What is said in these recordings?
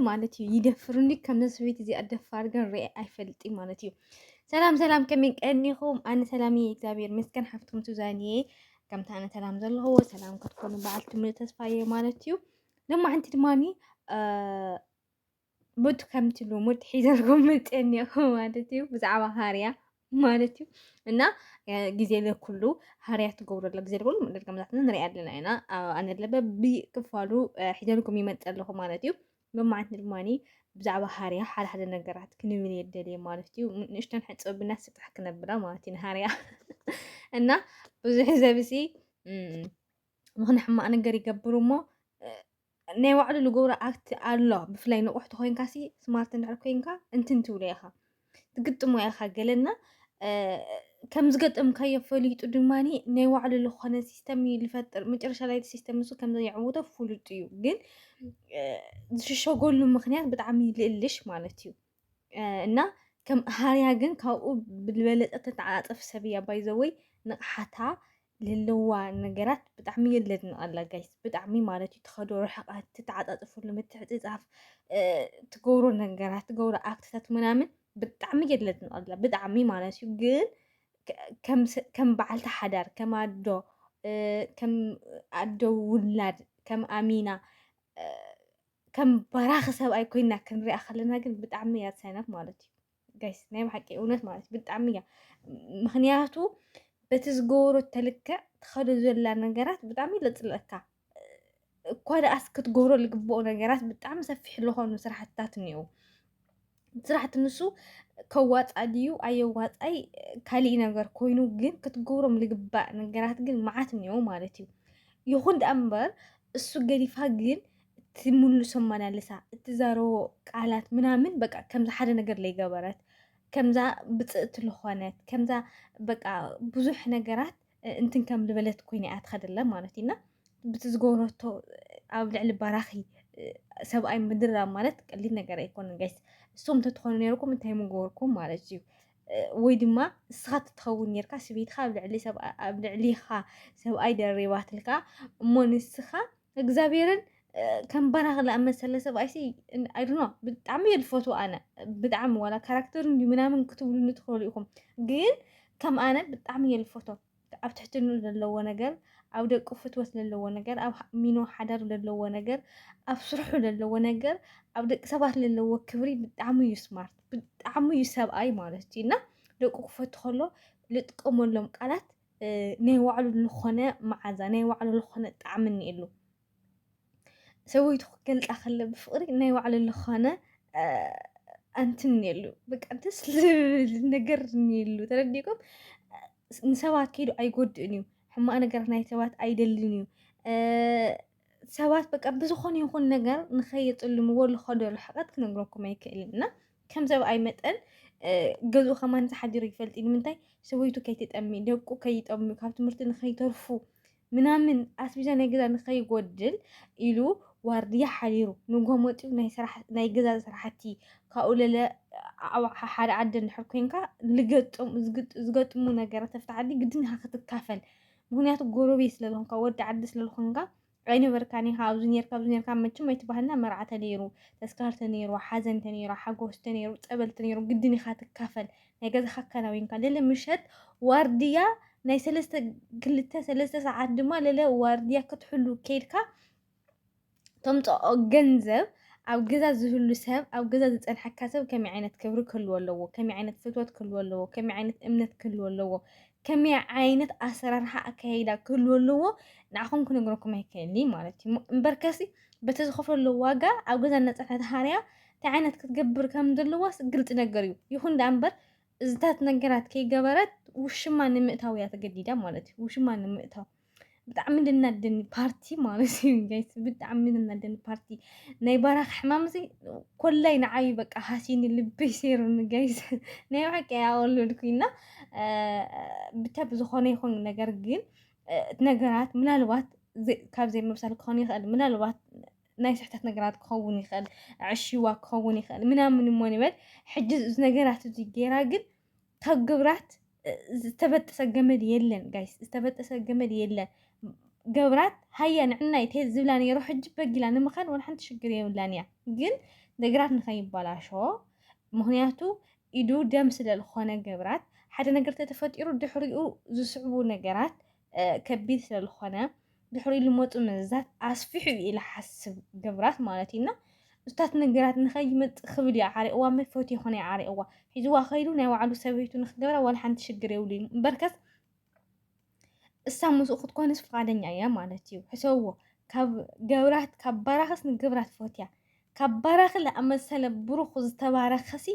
ማለት እዩ ይደፍሩኒ ከምዚ ሰበይቲ እዚኣ ደፋር ግን ርአ ኣይፈልጥ ማለት እዩ ሰላም ሰላም ከመይ ቀኒኹም ኣነ ሰላም እየ እግዚኣብሔር መስገን ሓፍትኩም ሱዛን እየ ከምቲ ኣነ ሰላም ዘለኹዎ ሰላም ክትኮኑ በዓል ትምህርቲ ተስፋ እየ ማለት እዩ ድማ ሓንቲ ድማኒ በቱ ከምቲ ልሙድ ሒዘልኩም መፅአ እኒኹ ማለት እዩ ብዛዕባ ሃርያ ማለት እዩ እና ግዜ ለኩሉ ሃርያ ትገብሩ ኣሎ ግዜ ለኩሉ ምድር ከምዛትና ንሪኣ ኣለና ኢና ኣነ ለበ ብክፋሉ ሒደልኩም ይመፅ ኣለኹ ማለት እዩ መማዓት ንድማኒ ብዛዕባ ሃርያ ሓደ ሓደ ነገራት ክንብል የደልየ ማለት እዩ ንእሽተን ሕፀብ ብና ስጥሕ ክነብላ ማለት እዩ ንሃርያ እና ብዙሕ ዘብሲ ምኽን ሕማቅ ነገር ይገብሩ እሞ ናይ ባዕሉ ዝገብሮ ኣክት ኣሎ ብፍላይ ንቑሕ ተኮይንካ ሲ ስማርት እንድሕር ኮንካ እንትን ትብሎ ኢኻ ትግጥሞ ኢኻ ገለና ከም ዝገጠምካዮ ፈሊጡ ድማ ናይ ባዕሉ ዝኾነ ሲስተም እዩ ዝፈጥር መጨረሻ ላይ ሲስተም ንሱ ከም ዘየዕውቶ ፍሉጥ እዩ ግን ዝሽሸገሉ ምክንያት ብጣዕሚ ልእልሽ ማለት እዩ እና ከም ሃርያ ግን ካብኡ ብዝበለጠ ተተዓፃፀፍ ሰብ እያ ባይዘወይ ንቕሓታ ልለዋ ነገራት ብጣዕሚ እየ ለድንቐላ ጋይስ ብጣዕሚ ማለት እዩ ትኸዶ ርሕቐት ትተዓፃፅፍሉ ምትዕፅፃፍ ትገብሮ ነገራት ትገብሮ ኣክትታት ምናምን ብጣዕሚ እየ ለድንቐላ ብጣዕሚ ማለት እዩ ግን ከም በዓልቲ ሓዳር ከም ኣዶ ከም ኣዶ ውላድ ከም ኣሚና ከም በራኺ ሰብኣይ ኮይና ክንሪኣ ከለና ግን ብጣዕሚ እያ ትሰነፍ ማለት እዩ ጋይስ ናይ ብሓቂ እውነት ማለት እዩ ብጣዕሚ እያ ምክንያቱ በቲ ዝገበሮ ተልክዕ ትኸዶ ዘላ ነገራት ብጣዕሚ ለፅለካ እኳ ደኣስ ክትገብሮ ዝግብኦ ነገራት ብጣዕሚ ሰፊሕ ዝኾኑ ስራሕትታት እኒአው ስራሕቲ ንሱ ከዋፃ ድዩ ኣየዋፃይ ካሊእ ነገር ኮይኑ ግን ክትገብሮም ልግባእ ነገራት ግን መዓት እኒኦ ማለት እዩ ይኹን ደኣ እምበር እሱ ገዲፋ ግን ትምልሶ መላለሳ እትዛረቦ ቃላት ምናምን በቃ ከምዚ ሓደ ነገር ለይገበረት ከምዛ ብፅእቲ ዝኾነት ከምዛ በቃ ብዙሕ ነገራት እንትን ከም ዝበለት ኮይነ እያ ትኸደለ ማለት እዩ እና ብቲ ዝገበረቶ ኣብ ልዕሊ ባራኺ ሰብኣይ ምድራብ ማለት ቀሊል ነገር ኣይኮነን ጋይስ። እሶም ተትኾኑ ነርኩም እንታይ ምገበርኩም ማለት እዩ ወይ ድማ እስኻ ትትኸውን ነርካ ስበይትኻ ኣብ ልዕሊ ሰብኣይ ደሪባትልካ እሞ ንስኻ እግዚኣብሔርን ከም ባራኽ ዝኣመሰለ ሰብኣይሲ ኣይዶኖ ብጣዕሚ እየ ዝፈትዎ ኣነ ብጣዕሚ ዋላ ካራክተር እንዲዩ ምናምን ክትብሉኒ ትኽእሉ ኢኹም ግን ከም ኣነ ብጣዕሚ እየ ዝፈቶ ኣብ ትሕትኑ ዘለዎ ነገር ኣብ ደቁ ፍትወት ዘለዎ ነገር ኣብ ሚኖ ሓዳር ዘለዎ ነገር ኣብ ስርሑ ዘለዎ ነገር ኣብ ደቂ ሰባት ዘለዎ ክብሪ ብጣዕሚ እዩ ስማርት ብጣዕሚ እዩ ሰብኣይ ማለት እዩ እና ደቁ ክፈቱ ከሎ ዝጥቀመሎም ቃላት ናይ ባዕሉ ልኾነ መዓዛ ናይ ባዕሉ ልኾነ ጣዕሚ እኒኤሉ ሰበይቱ ክገልፃ ከለ ብፍቅሪ ናይ ባዕሉ ልኾነ ኣንትን እኒኤሉ በቃ ደስ ዝብል ነገር እኒኤሉ ተረዲእኩም ንሰባት ከይዱ ኣይጎድእን እዩ ሕማቅ ነገር ናይ ሰባት ኣይደልን እዩ ሰባት በቃ ብዝኾነ ይኹን ነገር ንኸየፅልምዎ ዝኸዶ ርሕቐት ክነግረኩም ኣይክእልን እና ከም ሰብኣይ መጠን ገዝኡ ከማን ተሓዲሩ ይፈልጥ ንምንታይ ሰበይቱ ከይትጠሚ ደቁ ከይጠሚ ካብ ትምህርቲ ንኸይተርፉ ምናምን ኣስቢዛ ናይ ገዛ ንኸይጎድል ኢሉ ዋርድያ ሓዲሩ ንጎ መፂኡ ናይ ገዛ ስራሕቲ ካብኡ ለለ ኣብ ሓደ ዓዲ እንድሕር ኮይንካ ዝገጥሙ ነገራት ተፍቲ ዓዲ ግድን ክትካፈል ምክንያቱ ጎረቤት ስለዝኮንካ ወዲ ዓዲ ስለዝኮንካ ኣይነበርካን ኢኻ ኣብዚ ኔርካ ኣብዚ ኔርካ መቸም ኣይትበሃልና መርዓ ተነይሩ ተስካር ተነይሩ ሓዘን ተነይሩ ሓጎስ ተነይሩ ፀበል ተነይሩ ግድን ኢኻ ትካፈል ናይ ገዛኻ ኣከናዊንካ ልዕሊ ምሸት ዋርድያ ናይ ሰለስተ ክልተ ሰለስተ ሰዓት ድማ ልዕሊ ዋርድያ ክትሕሉ ከይድካ ተምጽኦ ገንዘብ ኣብ ገዛ ዝህሉ ሰብ ኣብ ገዛ ዝጸንሐካ ሰብ ከመይ ዓይነት ክብሪ ክህልዎ ኣለዎ ከመይ ዓይነት ፍትወት ክህልዎ ኣለዎ ከመይ ዓይነት እምነት ክህልዎ ኣለዎ ከመይ ዓይነት ኣሰራርሓ ኣካይዳ ክህልዎ ኣለዎ ንዓኹም ክነግረኩም ኣይክእልን እዩ ማለት እዩ እምበር ከሲ በቲ ዝኸፈሎ ዋጋ ኣብ ገዛ እናጸንሐት ሃርያ እንታይ ዓይነት ክትገብር ከም ዘለዋስ ግልፂ ነገር እዩ ይኹን ደኣ እምበር እዚታት ነገራት ከይገበረት ውሽማ ንምእታው እያ ተገዲዳ ማለት እዩ ውሽማ ንምእታው ብጣዕሚ ልናደኒ ፓርቲ ማለት እዩ ጋይስ ብጣዕሚ ልናደኒ ፓርቲ ናይ ባራክ ሕማም እዚ ኮላይ ንዓዩ በቃ ሃሲኒ ልበይ ሰይሩኒ ጋይስ ናይ ብሓቂ ኣወለድኩ እና ብቻ ብዝኾነ ይኹን ነገር ግን ነገራት ምናልባት ካብ ዘይምብሳል ክኾን ይኽእል ምናልባት ናይ ስሕተት ነገራት ክኸውን ይኽእል ዕሽዋ ክኸውን ይኽእል ምናምን እሞ ንበል ሕጂ እዚ ነገራት እዚ ገይራ ግን ከግብራት ዝተበጠሰ ገመድ የለን ጋይስ፣ ዝተበጠሰ ገመድ የለን። ገብራት ሃያ ንዕናይ ተሄድ ዝብላ ነይሮ ሕጂ በጊላ ንምኻን ወላ ሓንቲ ሽግር የብላን እያ። ግን ነገራት ንኸይበላሾ ምክንያቱ ኢዱ ደም ስለ ዝኾነ ገብራት ሓደ ነገር ተተፈጢሩ ድሕሪኡ ዝስዕቡ ነገራት ከቢድ ስለ ዝኾነ ድሕሪኡ ልመፁ መዘዛት ኣስፊሑ እዩ ኢለ ሓስብ ግብራት ማለት እዩ እና እታት ነገራት ንኸይመፅእ ክብል እዩ ዓሪቕዋ እምበር ፈትዮ ኮነ ዓሪቕዋ ሒዝዋ ከይዱ ናይ ባዕሉ ሰበይቱ ንክገብራ ዋላ ሓንቲ ሽግር የብሉን እምበርከስ እሳ ምስኡ ክትኮንስ ፍቃደኛ እያ ማለት እዩ ሕሰብዎ ካብ ገብራት ካብ ባራኽስ ንገብራት ፈትያ ካብ ባራኽ ዝኣመሰለ ብሩኽ ዝተባረኸሲ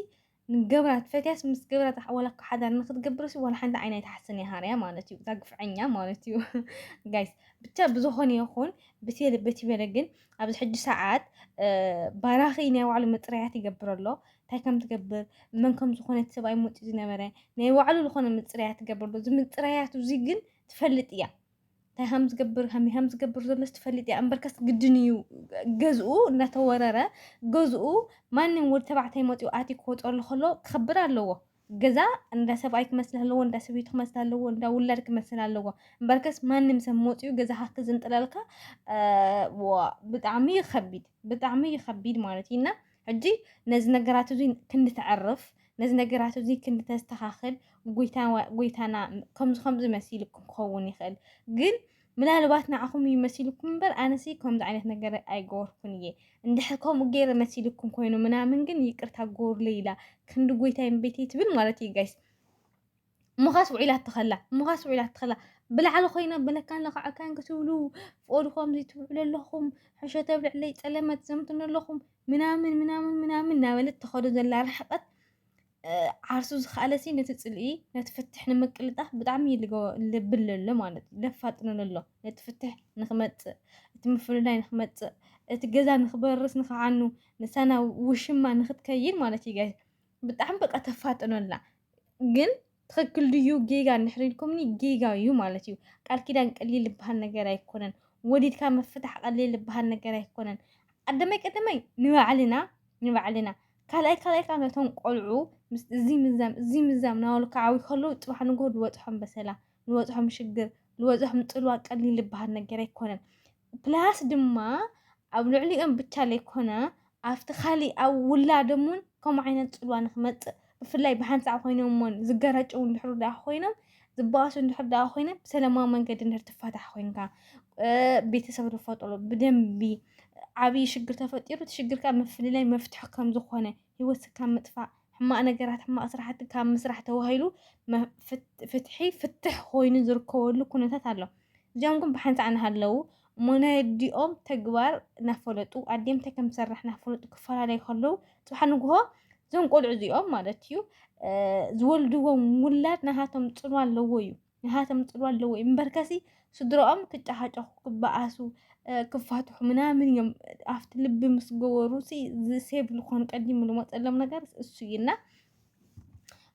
ንገብራ ትፈትያስ ምስ ገብራ ታ ወላ እኮ ሓዳር ንክትገብርስ ወላ ሓንቲ ዓይና ኣይትሓስን እያ ሃርያ ማለት እዩ እዛ ግፍዐኛ ማለት እዩ ጋይስ ብቻ ብዝኾነ ይኹን ብቴለ በቲ በለ ግን ኣብዚ ሕጂ ሰዓት ባራኺ ናይ ባዕሉ ምፅርያት ይገብር ኣሎ እንታይ ከም ትገብር መን ከም ዝኾነት ሰብኣይ መፂኡ ዝነበረ ናይ ባዕሉ ዝኾነ ምፅርያት ትገብር ኣሎ እዚ ምፅርያቱ እዚ ግን ትፈልጥ እያ እንታይ ከም ዝገብር ከመይ ከም ዝገብር ዘሎስ ትፈልጥ እያ እምበርከስ ግድን እዩ ገዝኡ እናተወረረ ገዝኡ ማንም ወዲ ተባዕታይ መፂኡ ኣትዩ ክወፅኣሉ ከሎ ክኸብር ኣለዎ ገዛ እንዳ ሰብኣይ ክመስል ኣለዎ እንዳ ሰበይቱ ክመስል ኣለዎ እንዳ ውላድ ክመስል ኣለዎ እምበርከስ ማንም ሰብ መፂኡ ገዛኻ ክዝንጥለልካ ዋ ብጣዕሚ እዩ ከቢድ ብጣዕሚ እዩ ከቢድ ማለት እዩ እና ሕጂ ነዚ ነገራት እዚ ክንተዕርፍ ነዚ ነገራት እዚ ክንተስተኻኽል ጎይታ ጎይታና ከምዚ ከምዚ መሲሉ ክኸውን ይኽእል ግን ምናልባት ንዓኹም እዩ መሲልኩም እምበር ኣነሲ ከምዚ ዓይነት ነገር ኣይገበርኩን እየ እንድሕር ከምኡ ገይረ መሲልኩም ኮይኑ ምናምን ግን ይቅርታ ጎርለይ ኢላ ክንዲ ጎይታይን ቤተይ ትብል ማለት እዩ ጋይስ እሞኻስ ውዒላቶ ኸላ እሞኻስ ውዒላቶ ኸላ ብላዕሊ ኮይና በለካን ለካዕካን ክትብሉ ፍኦድ ከምዚ ትብዕሉ ኣለኹም ሕሾ ተብልዕለይ ፀለመ ትዘምቱን ኣለኹም ምናምን ምናምን ምናምን እናበለት ተኸዶ ዘላ ርሕቀት ዓርሱ ዝኸኣለሲ ነቲ ፅልኢ ነቲ ፍትሕ ንምቅልጣፍ ብጣዕሚ ልብል ኣሎ ማለት እዩ ለፋጥነሉ ኣሎ ነቲ ፍትሕ ንክመፅእ እቲ ምፍልላይ ንክመፅእ እቲ ገዛ ንክበርስ ንክዓኑ ንሳና ውሽማ ንክትከይድ ማለት እዩ ጋይ ብጣዕሚ በቃ ተፋጥኖ ኣላ ግን ትክክል ድዩ ጌጋ እንድሕር ኢልኩምኒ ጌጋ እዩ ማለት እዩ ቃል ኪዳን ቀሊል ዝበሃል ነገር ኣይኮነን ወሊድካ ምፍታሕ ቀሊል ዝበሃል ነገር ኣይኮነን ቀደመይ ቀደመይ ንባዕልና ንባዕልና ካልኣይ ካልኣይ ካብ ነቶም ቆልዑ ምስ እዚ ምዛም እዚ ምዛም ናበሉ ክዓብዩ ከለዉ ፅባሕ ንግሆ ዝበፅሖም በሰላ ልወጽሖም ሽግር ልወጽሖም ጽልዋ ቀሊል ልበሃል ነገር ኣይኮነን ፕላስ ድማ ኣብ ልዕሊኦም ብቻ ለይኮነ ኣብቲ ካሊእ ኣብ ውላዶም ውን ከምኡ ዓይነት ጽልዋ ንክመጽእ ብፍላይ ብሓንሳዕ ኮይኖም ውን ዝገረጭው እንድሕር ደኣ ኮይኖም ዝበኣሱ እንድሕር ደኣ ኮይኖም ብሰለማዊ መንገዲ እንድሕር ትፋታሕ ኮይንካ ቤተሰብ ዝፈጥሩ ብደንቢ ዓብዪ ሽግር ተፈጢሩ እቲ ሽግር ከዓ ምፍልላይ መፍትሒ ከም ዝኾነ ህይወት ካብ ምጥፋእ፣ ሕማቕ ነገራት፣ ሕማቕ ስራሕቲ ካብ ምስራሕ ተባሂሉ ፍትሒ፣ ፍትሕ፣ ኮይኑ ዝርከበሉ ኩነታት ኣሎ። እዚኦም ግን ብሓንሳእ እናሃለዉ እሞ ናይ ኣዲኦም ተግባር እናፈለጡ ኣዲኦም እንታይ ከም ትሰርሕ እናፈለጡ ክፈላለዩ ከለዉ ፅባሕ ንግሆ እዞም ቆልዑ እዚኦም ማለት እዩ ዝወልድዎም ውላድ ናሃቶም ፅልዋ ኣለዎ እዩ። ንሃቶም ጽልዋ ኣለዎ እዩ እምበርከሲ ስድራኦም ክጨሃጨኹ ክበኣሱ ክፋትሑ ምናምን እዮም ኣብቲ ልቢ ምስ ገበሩ ሲ ዝሴብ ዝኾኑ ቀዲሙ ዝመፀሎም ነገር እሱ እዩ እና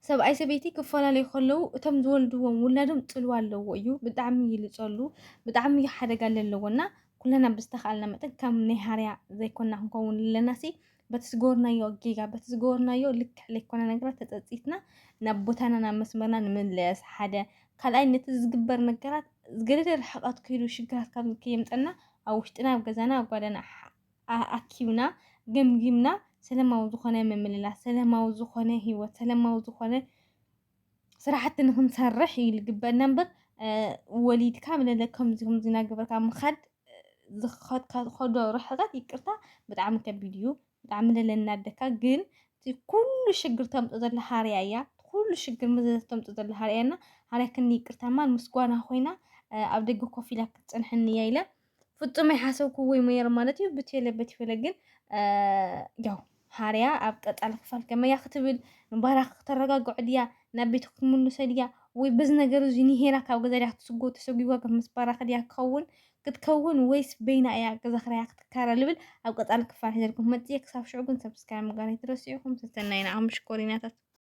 ሰብኣይ ሰበይቲ ክፈላለዩ ከለዉ እቶም ዝወልድዎም ውላዶም ፅልዋ ኣለዎ እዩ ብጣዕሚ ይልፀሉ ብጣዕሚ እዩ ሓደጋ ኣለዎ እና ኩለና ብዝተኽኣልና መጠን ከም ናይ ሃርያ ዘይኮና ክንከውን ኣለና ሲ በቲ ዝገበርናዮ ጌጋ በቲ ዝገበርናዮ ልክዕ ዘይኮነ ነገራት ተፀፂትና ናብ ቦታና ናብ መስመርና ንምለስ ሓደ ካልኣይ ነቲ ዝግበር ነገራት ገደደ ርሕቐት ከይዱ ሽግራት ካብ ከየምፀና ኣብ ውሽጥና ኣብ ገዛና ኣብ ጓዳና ኣኪብና ገምጊምና ሰለማዊ ዝኾነ ምምልላስ ሰለማዊ ዝኾነ ሂወት ሰለማዊ ዝኾነ ስራሕቲ ንክንሰርሕ እዩ ዝግበእና እምበር ወሊድካ ምለለ ከምዚ ከምዚ እናገበርካ ምኻድ ዝኸድካኸዶ ርሕቐት ይቅርታ ብጣዕሚ ከቢድ እዩ ብጣዕሚ ለለ እናደካ ግን እቲ ኩሉ ሽግር ተምፅኦ ዘላ ሃርያ እያ እቲ ኩሉ ሽግር መዘዝ ተምፅኦ ዘላ ሃርያ እና ሃርያ ክኒ ይቅርታ እማ ምስጓና ኮይና ኣብ ደገ ኮፍ ኢላ ክትፀንሐኒ እያ ኢለ ፍጹም ኣይሓሰብኩዎይ ሞየር ማለት እዩ ብቴለ በቲፈለ ግን ያው ሃርያ ኣብ ቀጻሊ ክፋል ከመያ ክትብል ንባህራ ክተረጋግዖ ድያ ናብ ቤቱ ክትምልሶ ድያ ወይ በዚ ነገር እዚ ንሄራ ካብ ገዛ ድያ ክትስጎ ተሰጒጓ ከም ምስ ባራኺ ድያ ክኸውን ክትከውን ወይስ በይና እያ ገዛ ክራያ ክትካረ ልብል ኣብ ቀጻሊ ክፋል ሒዘልኩም መጽየ ክሳብ ሽዑ ግን ሰብስክራይብ ምግባር ኣይትረስዑ ኢኹም ሰሰናይና ኣምሽኮሪናታት